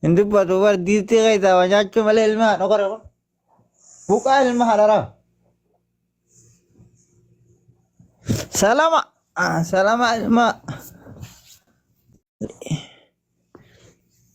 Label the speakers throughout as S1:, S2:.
S1: Hin dubbatu bar diistii keessaa waa nyaachuu malee ilmi haadha qora kun. Buqaa ilma haadharaa. Salama. Ah, Salama ilma.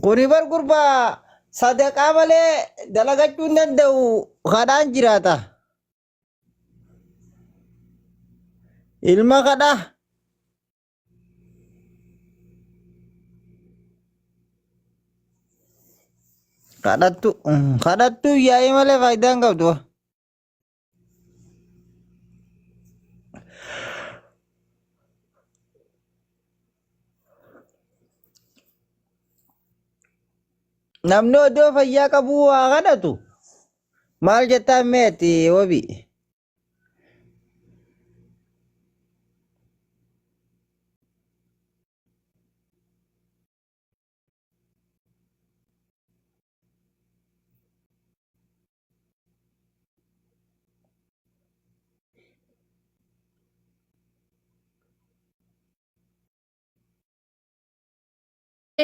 S1: Kuni bar gurba sadaqaa malee dalagachuu hin danda'u kadhaan jiraata. Ilma kadha. Kadhattu kadhattu yaa'ii malee faayidaa hin qabdu. Namni odoo fayyaa qabuu waa kadhatu maal jettaan meeti wabii.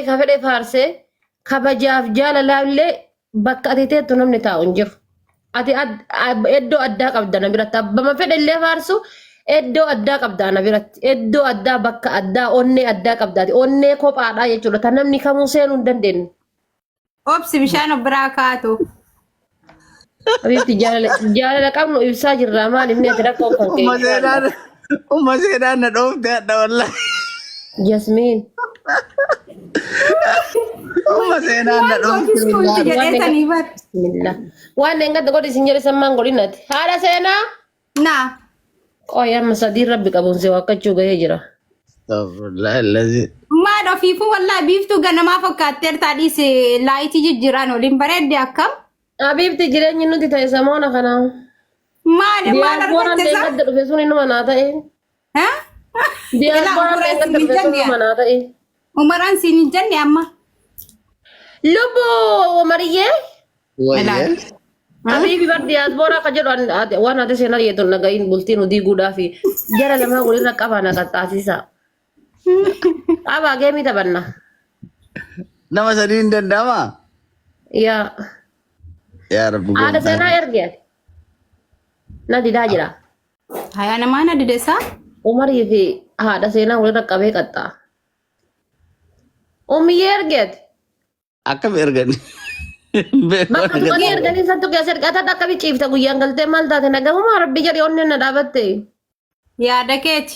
S2: ka fedhe faarsee kabajaaf jaalalaa illee bakka ati teettu namni taa'u hin jiru. Ati ad- ab- iddoo addaa qabda na biratti abbama fedhe illee faarsu iddoo addaa qabda na biratti iddoo addaa bakka addaa onnee addaa qabda ati onnee kophaadhaa jechuudha ta namni kamuu seenuu hin dandeenye. Obsi
S3: bishaan of biraa kaatu.
S2: Habiibti jaalala jaalala qabnu ibsaa jirra maal inni ati rakkoo kan kee Uma seenaan uma
S1: seenaan na dhoofte hadha wallahi. Jasmiin Uma seenaan na dhoofte Wanti kun wallahi. jedhee sanii bar. bismillah
S2: waan engadda godhi isin jedhe sammaan godhinati haadha seenaa Naa.
S3: Qoy
S2: amma sadii rabbi qabuun si waakkachuu gahee jira. Astaghfirullah allazi.
S3: Maal ofiifuu wallaa biiftuu ganamaa fakkaatteer taadhiis laayitii jijjiiraan waliin bareedde akkam? Habiibti jireenyi
S2: nuti ta'e samoona kana. Maal maal
S3: Diyaaspooraan argatte isaa?
S2: deeggadda dhufe sun inuma naa ta'e. Umaraan siin hin
S3: jenne amma. Lubbu
S2: Umariyyee.
S1: Habiibi
S2: bar diyaasbooraa kan jedhu waan ati seenaa dhiyeetu naga'iin bultiin hudii guudhaa fi jara lamaa walirra qabaa na qaxxaasisaa. Qabaa geemii taphanna.
S1: Nama sadii hin danda'ama. Yaa. Yaa rabbi. Haadha seenaa erge.
S2: Na didaa jira. Hayaa namaa
S3: na didesaa. Umarii fi
S2: haadha seenaa walirra qabee qaxxaa. Umiyyee ergeeti. Akkam
S1: ergan?
S2: Bakka du'anii erganii isattu keessa ergataa akkami ciifta guyyaan galtee maal taate nagahumaa rabbi jedhi onneen na dhaabatte. Yaada
S3: keeti.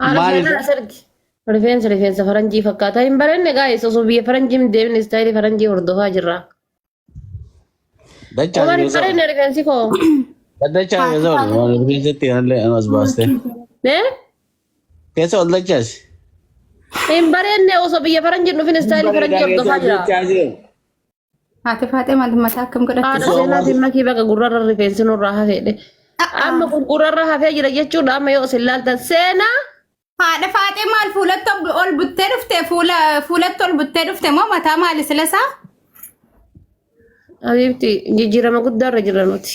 S2: Haala Maal- seeraa as argi. Rifeensi rifeensa faranjii fakkaata. Hin barenne gaa'eessa osoo biyya faranjii hin deemne istaayilii faranjii hordofaa jirra. Dachaa Omar hin yoo barenne rifeensi koo. ta'u. Dachaa
S1: yoo ta'u. Rifeensatti kanallee anas baastee. Eh? Keessa ol dachaasi. Hin
S2: barenne osoo biyya faranjii hin dhufin istaayilii faranjii hordofaa jira.
S3: Haati faaxee maal mataa akkam Haadha godhatte? Osoo seenaa waan- simma kii baga
S2: gurrarra rifeensi nurraa hafeedhe. Amma kun gurrarra hafee jira jechuudha amma yoo isin laaltan seenaa Haadha
S3: faaxee maal fuulatti ol- ol buttee dhufte fuula fuulatti ol buttee dhufte moo mataa maali silasaa?
S2: Habiibti jijjiirama guddaarra jira nuti.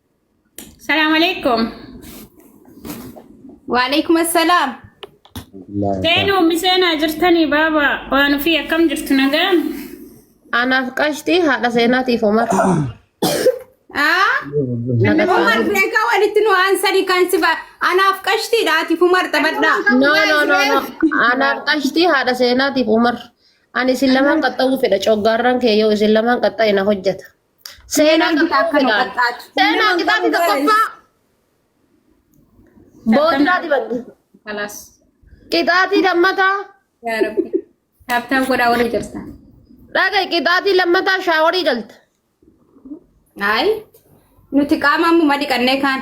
S4: Salaam alaikum.
S3: Waalaikum assalaam.
S4: Seenuu ummi seenaa jirtanii baaba waan ofii akkam jirtu nagaa? Anaaf
S2: qashtii haadha seenaatiif Omar. Aa?
S3: Naga Umar saarii. beekaa walitti nu aansanii kan si ba- anaaf qashtiidha ati Umar
S2: taphadhaa.
S3: No
S2: no no no.
S3: Anaaf
S2: qashtii haadha seenaatiif
S3: Omar.
S2: Ani isin lamaan qaxxa'uu fedha coggaarraan kee yoo isin lamaan qaxxa'e na hojjeta. Seenaa gita akka nu qaxxaatu. Seenaa gitaati tokkoffaa boodaa dibadhu. Kalaas.
S3: Qixaatii
S2: lammataa Yaa
S3: Rabbi. Taaptaan godhaa warri jirtan. dhaga
S2: qixaatii lammataa shaaworii galta.
S3: Ayi. Nuti qaama ammuma dhiqannee kaan.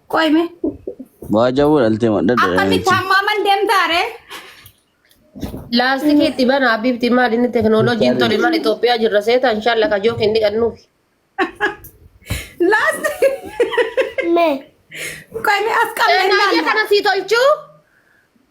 S3: Qoy mee. Waa
S1: jawuu dhaltee madda Akkamitti dha. hammaaman
S3: deemtaa ree? Laastikii
S2: itti bana Habiibti maal inni teknooloojiin tole maal Itoophiyaa jirra seeta inshaalla kajoo kenni qannuuf.
S3: Laast. Me. Qoy mee as qabnee Naayya ilaalla. kana sii
S2: tolchuu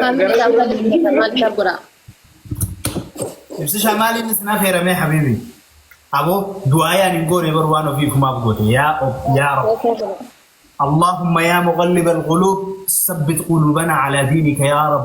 S5: Family
S2: dhaan waliin jirra maal isaan godhaa?
S5: Ibsishaa maaliin isin affeeramee habiibi? Aboo du'aayaan hin goone bar waan ofii kumaaf goote yaa of yaa rab. Allahumma yaa muqallib al-quluub sabbit quluubana ala diinika yaa rab.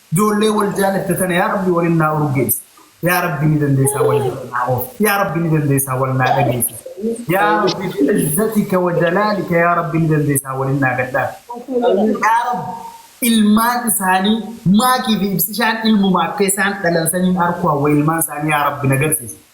S5: Ijoollee wal jaalatte tana yaa rabbi walin naa urgeessi yaa rabbi ni dandeessaa wal bira naa oolchi yaa rabbi ni dandeessaa wal naa dhageessisi yaa rabbi bi'izzatika wa jalaalika yaa rabbi ni dandeessaa walin naa gadhaasi yaa rabbi ilmaan isaanii maakii fi ibsishaan ilmuma akka isaan dhalan saniin arkuu hawwa ilmaan isaanii yaa rabbi na garsiisi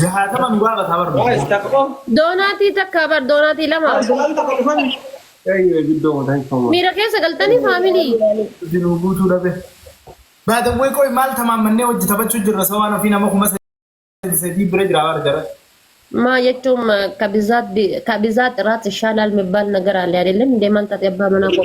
S5: jahaatama nu gaafataa bar Waa istakfur. Doonaatii
S2: takka bar doonaatii lama. Bar sagal takka dhufan. Eeyyee guddoo mataa hin famu. Miira keessa galtanii faamilii. Hojii nuu guutuu
S5: dhabe. Baadawwee qoy maal tamaammannee wajji taphachuu jirra sawaan ofii nama kuma sadii sadii bira jira bar jara. Maa jechuun
S2: ma- ka bizaat bi- ka bizaat iraat ishaalaal mibbaal nagaraale adeelem deemaan taate abbaa manaa koo.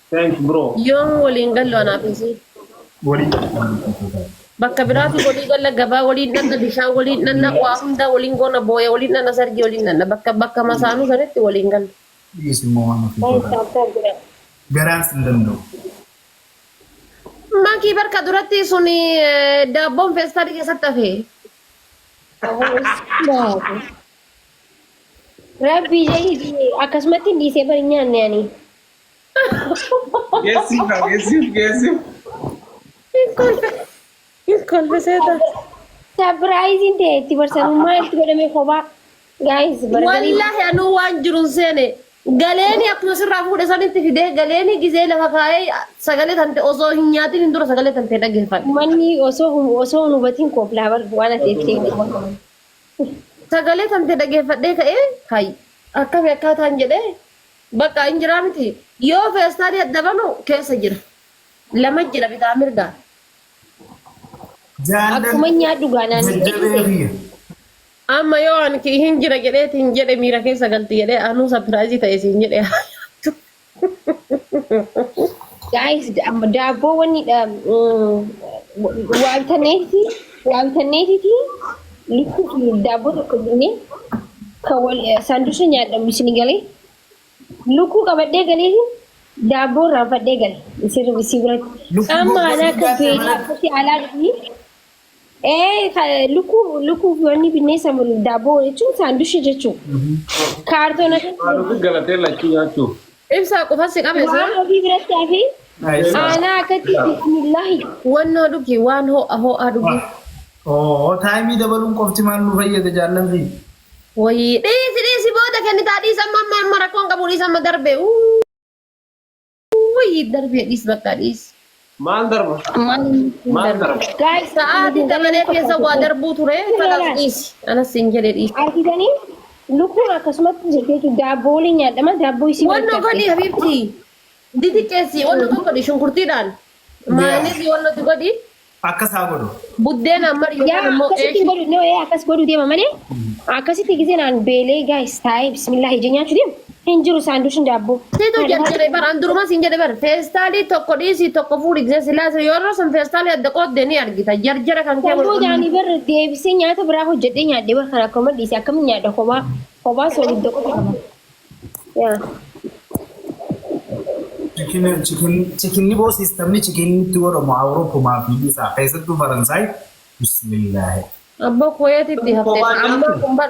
S6: Thanks bro. Yoom waliin gallu
S2: anaaf isii. Waliin
S5: gallu.
S2: Bakka biraati walii galla gabaa waliin dhanna bishaan waliin dhanna waa hundaa waliin goona booya waliin dhanna sargii waliin dhanna bakka bakka masaanuu sanitti waliin galla. Please immoo
S5: waan ofii Thanks godhaa. Abbo Bira. Garaan
S2: sin danda'u. Makii barka duratti suni daabboon feestaalii keessatti hafe.
S7: Rabbii jedhii akkasumatti dhiisee bari nyaanne ani.
S6: Geessiif
S2: kaa geessiif geessiif. Hin kolfe. Hin kolfe seetaa. Sapiraayiziin
S7: ta'e itti barsanuu maaltu godhame kophaa. Gaayis bargarii. Wallaahi anuu
S2: waan jiruun seene galeeni akkuma sirraa fuudhe sanitti fidee galeeni gizee lafa kaa'ee sagalee tante osoo hin nyaatin hin dura sagalee tante dhaggeeffadhe. Manni osoo hum-
S7: osoo hin hubatiin kooflaa bar waan ati itti himte. Sagalee
S2: tante dhaggeeffadhee ka'ee hay akkami akkaataan jedhee Baqqa in jira miti yoo feestaali adda banu keessa jira lama jira bitaa mirgaan
S7: Jaallal akkuman nyaadhu gaa naan hin jedhin jajjabee seete. kiyya.
S2: Amma yoo an ki hin jira jedheeti hin jedhe miira keessa galti jedhe anuu sapiraayizii ta'e siin jedhe haa nyaattu.
S7: Guys amma daabboo wanni dha waaltaneeti waaltaneetiti Lukkuu daabboo tokko binnee kan wal saandusa nyaadhamu isin galee lukkuu qabadhee galee daabboo irraanfadhee gale isin ribisii biratti Lukkuu caammaa goggotii anaa kan nyaatee beelaa malee. akkasi alaa dhufni ee ka- lukkuu lukkuu wanni binnee samu daabboo jechuun saandusha jechuun kaartoona Haaloo fi
S6: galatee lachuu nyaachuuf. Ibsaa qofan si
S2: qabe Waan sila. ofii biratti hafi.
S7: Aanaa akkatti bismillaahi. Wannoo dhugi
S2: waan ho'a ho'aa dhugi. Oo
S5: taayimii dabaluun qofti maal nu fayyada jaallan fi. Wayii
S2: dhiisi dhiisi booda kennitaa dhiisa amma amma amma rakkoon qabu dhiisa amma darbee. Uu. Wayii darbee dhiis bakka dhiis. Maal darba?
S6: Maal nutti Maal
S7: darba? darba? Guys, Sa'aatii
S2: dabalee keessa waa darbuu ture. Kanas dhiisi. Anas siin jedhe dhiisi. Argitanii?
S7: Lukkuun akkasumatti jirti jechuudha. Daabboo waliin nyaadhama. Daabboo isii Wanno godhi walitti habiibti.
S2: Didiqqeessi wanno tokko godhi shunkurtiidhaan. Maayiniis wanno itti godhi. Akkas haa godhu.
S5: Buddeena amma Yaa
S2: yookaan immoo akkasitti eeshi. godhu
S7: noo
S2: ee akkas godhu
S7: deema malee akkasitti gisee naan beelee gaayis taa'ee bismillaahi ija nyaachu deema. Hin jiru saanduuchin daabboo. Situ Haadha jalqabe haadha. bar
S2: an durumaa siin jedhe bar feestaalii tokko dhiisii tokko fuudhi gisee silaa sun yeroo sun feestaalii adda qoodde ni argita jarjara kan kee Kan wal booda ani bar deebisee
S7: nyaata biraa hojjedhee nyaadhe bar kan akkuma dhiise akkamiin nyaadha kophaa kophaa soolidda qofa qaba. Yaa.
S5: Chikinni chikinni chikinni boo siistamni chikinni itti godhamu Awuroopumaa fi isaa keessattuu Faransaay bismillaahi. Abboo
S2: kuweetitti haftee Kophaa ammaa nyaatu. kun bar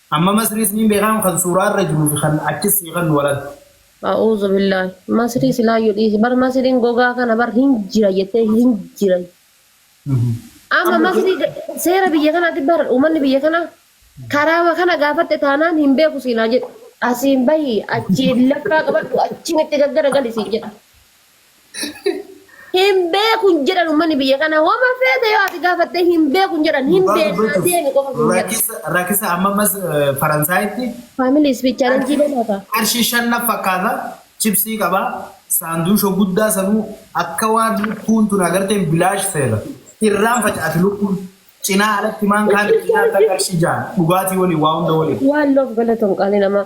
S5: Amma masrii isniin beekaan kan suuraa irra jiruu fi kan achis sii kannu walaltu. A'uuzubillaah
S2: masrii silaayyu dhiisi bar masriin gogaa kana bar hin jira jettee hin jira amma masrii seera biyya kanaatti bar uummanni biyya kana karaama kana gaafatte taanaan hin beeku siin haa jedhu asiin bahi achiin laffaa qabadhu achiin itti gaggara gali siin jedha. Hin beeku hin jedhan uummanni biyya kana homa feete yoo ati gaafatte hin beeku hin jedhan hin Dhugaa beeknaa dubbachuuf deemi qofa hin jedhan. rakisa rakisa amma
S5: ammas eh, Faransaayitti Faamilii isfi
S2: chaalenjii qarshii beekaa qarshii shan naf
S5: fakkaata chipsii qaba saanduusha guddaa sanuu akka waan lukkuun tun agarteen bilaash seera irraan facaati lukkuun cinaa alatti maan kaan cinaa akka qarshii ja'a dhugaatii waliin waa hunda waliin Waan loof galatoom
S2: qaalii namaa.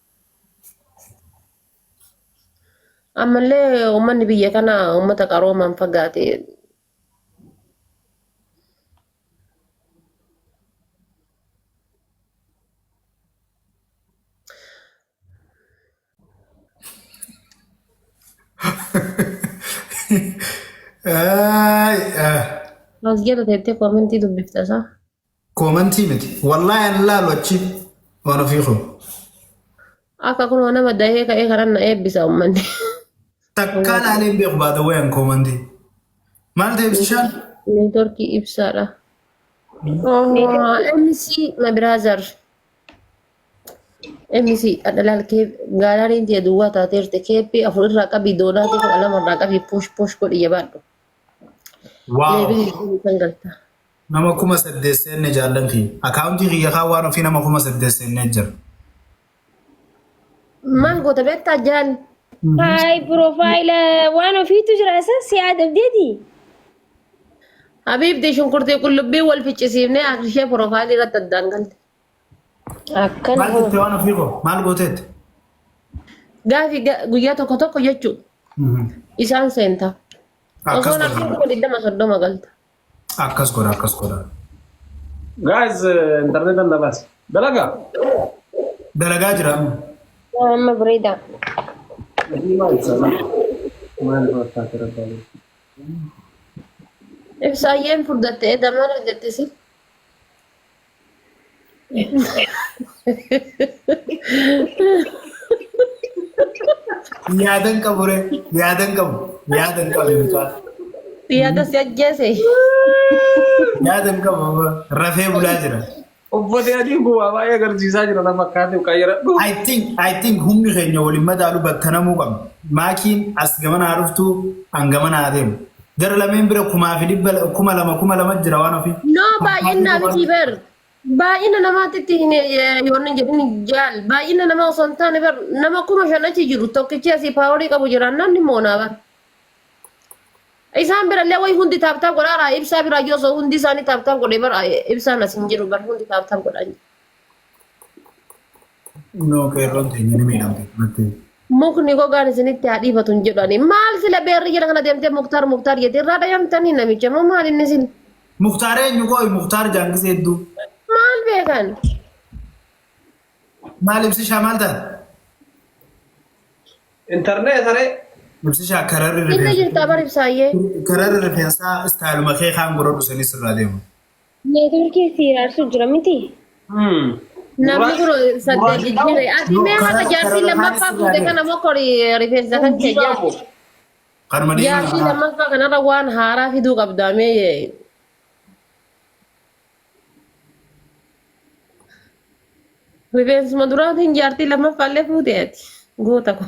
S2: Ammallee uummanni biyya kana uummata qaroomaan fagaate Ay, ah. as jala teettee koomentii dubbifta isaa. Koomantii
S5: miti. Wallahi an laalu achi waan ofii koo.
S2: Akka kunoo nama dahee ka'ee kanan na eebbisa ummanni. Takkaa
S5: laalee hin beeku baata wayan koomantii. Maal ta'e ibsishaan? Neetworkii
S2: ibsaadha. MC my brother. MC adhalaal kee gaalaariin tee duwwaa taateerte keeppii afur irraa qabii doonaatii kudha lama irraa qabii push push godhi jabaadhu.
S5: Waaw. Leebilii kan galta. Nama kuma saddeet seenne jaallan kiyya. Akaawuntii kiyya kaan waan ofii nama kuma saddeet seennee jira.
S2: Maal goota beektaa jaal? Haay
S7: piroofaayila waan ofiitu jira isa si adabdeeti. Habiibti
S2: shunkurtii qullubbii wal ficcisiifnee akka ishee piroofaayilii irratti addaan galte.
S7: Akkana Maal hoo. jette waan ofii
S5: koo? Maal gooteetti?
S2: Gaafi ga- guyyaa tokko tokko jechuu isaan seenta. Osoo Akkas namni godha. kuma digdama soddoma galta. Akkas godha
S5: akkas godha.
S6: Guys, internet and dabas. Dalaga.
S5: Dalagaa jira amma. Amma
S7: bareeda.
S2: Ibsaayyeen furdatte edda maal hojjette si?
S5: Yaadan qabu re yaadan qabu yaadan qabu
S2: mucaa Yaada si ajjeese.
S5: yaadan qabu amma rafee bulaa jira. Uffati adii
S6: kun waa baay'ee agarsiisaa jira na fakkaate qayyadadhu. I think I think
S5: humni keenya waliin madaalu battanamuu qabna. Maakiin as gamana haa dhuftu an gamana haa deemu. Gara lameen bira kumaa fi dhibba la- kuma lama kuma lama jira waan ofii. No baay'inaa miti
S2: bar. Baay'ina namaatti itti hin yoonni jedhin jaal. Baay'ina namaa osoo hin taane bar nama kuma shan achi jiru tokkichi asii paaworii qabu jiraan namni moonaa bar. Isaan birallee wayi hundi taaptaap godhaaraa ibsaa biraa yoo osoo hundi isaanii taaptaap godhee bar ibsaan as hin jiru bar hundi taaptaap godhaa jiru.
S5: Kunoo qeerroon keenya ni miidhamte mattee. Mukni gogaan
S2: isinitti haa dhiifatu hin jedhu ani. Maal sila beerri jala kana deemtee muktaar muktaar jettee irraa dhayamtanii namicha moo maal inni sila? Muktaar eenyu
S5: qooyi muktaar jaangisee hedduu. Maal beekan? Maal ibsishaa maal taate?
S6: Internet saree. Ibsishaa kararri
S5: Inna rifeensa. jirtaa bar
S2: ibsaayyee. Kararri rifeensaa
S5: istaayiluma kee kaan godhadhu sanis irraa deemu. Neetworkiin
S7: si hiraarsu jira miti.
S2: Namni kun saddeet jijjiire. Ati mee haqa jaartii lammaffaa fuute kana moo kori rifeensa kan kee jaartii. Kanuma
S5: deemaa Jaartii kanaa. lammaffaa
S2: kanarra waan haaraa fiduu qabdaa mee. Rifeensuma duraatiin jaartii lammaffaa illee fuute ati. Goota kun.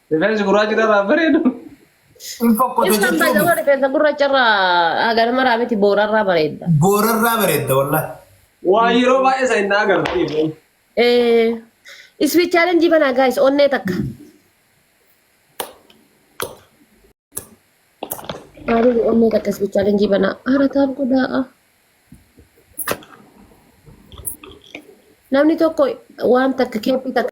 S6: Rifeensi gurraachi irraa bareedu. Hin
S2: fokkota Ibsan jechuun baay'ee rifeensa gurraacha irraa hagan maraa miti boorarraa bareedda. boorarraa bareedda
S5: wallahi. Waa yeroo
S6: baay'ee isa hin agarsiisu. Eh,
S2: iswi challenge bana guys onnee takka. Maalif onnee takka iswi challenge bana haara taaf godhaa. Namni tokko waan takka keeppii takka